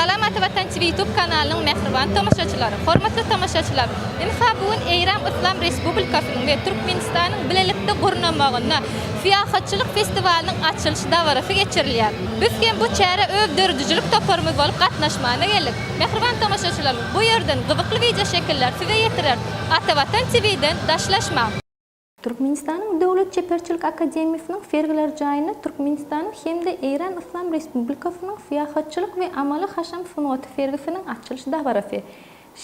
Salamaty Watan TV ýutub kanalynyň mähriban tomaşaçylary! Hormatly tomaşaçylar! Ynha bu gün Eýran Yslam Respublikasynyň we Türkmenistanyň bilelikde gurnamagynda syýahatçylyk festiwalynyň açylyş dabarasy geçirilýär. Biz hem bu çärä öz döredijilik toparymyz bolup gatnaşmana geldik. Mähriban tomaşaçylarymyz bu ýerden gyzykly wideoşekiller size ýetireris. Atavatan TV-den daşlaşmaň! Türkmenistanyň Döwlet çeperçilik akademiýasynyň sergiler jaýynda Türkmenistanyň hem-de Eýran Yslam Respublikasynyň syýahatçylyk we amaly-haşam sungaty sergisiniň açylyş dabarasy,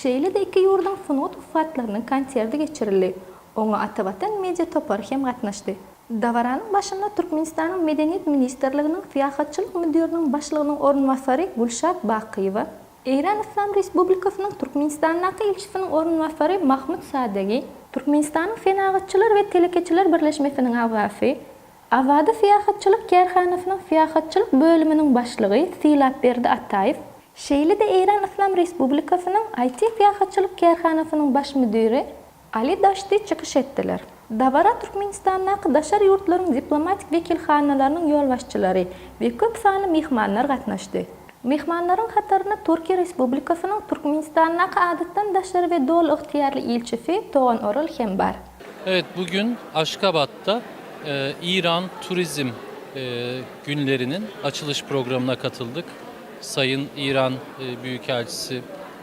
şeýle-de iki ýurduň sungat ussatlarynyň konserti geçirildi. Oňa Atavatan media topary hem gatnaşdy. Dabaranyň başynda Türkmenistanyň Medeniýet ministrliginiň syýahatçylyk müdiriniň başlygynyň orunbasary Gülşat Bakyýewa, Eýran Yslam Respublikasynyň Türkmenistandaky ilçisiniň orunbasary Mahmud Sadegi, Türkmenistanyň Senagatçylar we telekeçiler birleşmesiniň agzasy, Awada syýahatçylyk kärhanasynyň syýahatçylyk bölüminiň başlygy Sylapberdi Ataýew, şeýle-de Eýran Yslam Respublikasynyň IT-syýahatçylyk kärhanasynyň baş müdiri Ali Daşti çykyş etdiler. Dabara Türkmenistandaky daşary ýurtlaryň diplomatik wekilhanalarynyň ýolbaşçylary we köp sanly myhmanlar gatnaşdy. Myhmanlaryň hatarynda Türkiýe Respublikasynyň Türkmenistandaky Adatdan daşary we Doly ygtyýarly ilçisi Togan Oral hem bar. Evet, bu gün Aşgabatda İran Turizm günleriniň açylyş programyna katyldyk. Sayyn İran Büyükelçisi.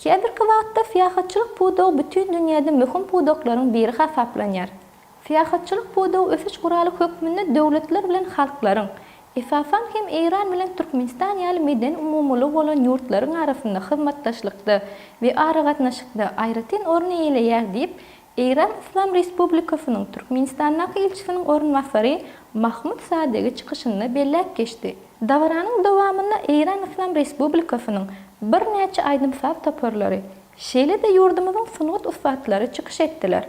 Häzirki wagtda syýahatçylyk pudagy bütin dünýäde möhüm pudaklaryň biri hasaplanýar. Syýahatçylyk pudagy ösüş guraly hökmünde döwletler bilen halklaryň, esasan hem Eýran bilen Türkmenistan ýaly medeni umumylygy bolan ýurtlaryň arasynda hyzmatdaşlykda we aragatnaşykda aýratyn orun eýeleýär diýip, Eýran Yslam Respublikasynyň Türkmenistandaky ilçisiniň orunbasary Mahmud Sadegi çykyşynda belläp geçdi. Dabaranyň dowamynda Eýran Yslam Respublikasynyň birnäçe aýdym-saz toparlary, şeýle-de ýurdumyzyň sungat ussatlary çykyş etdiler.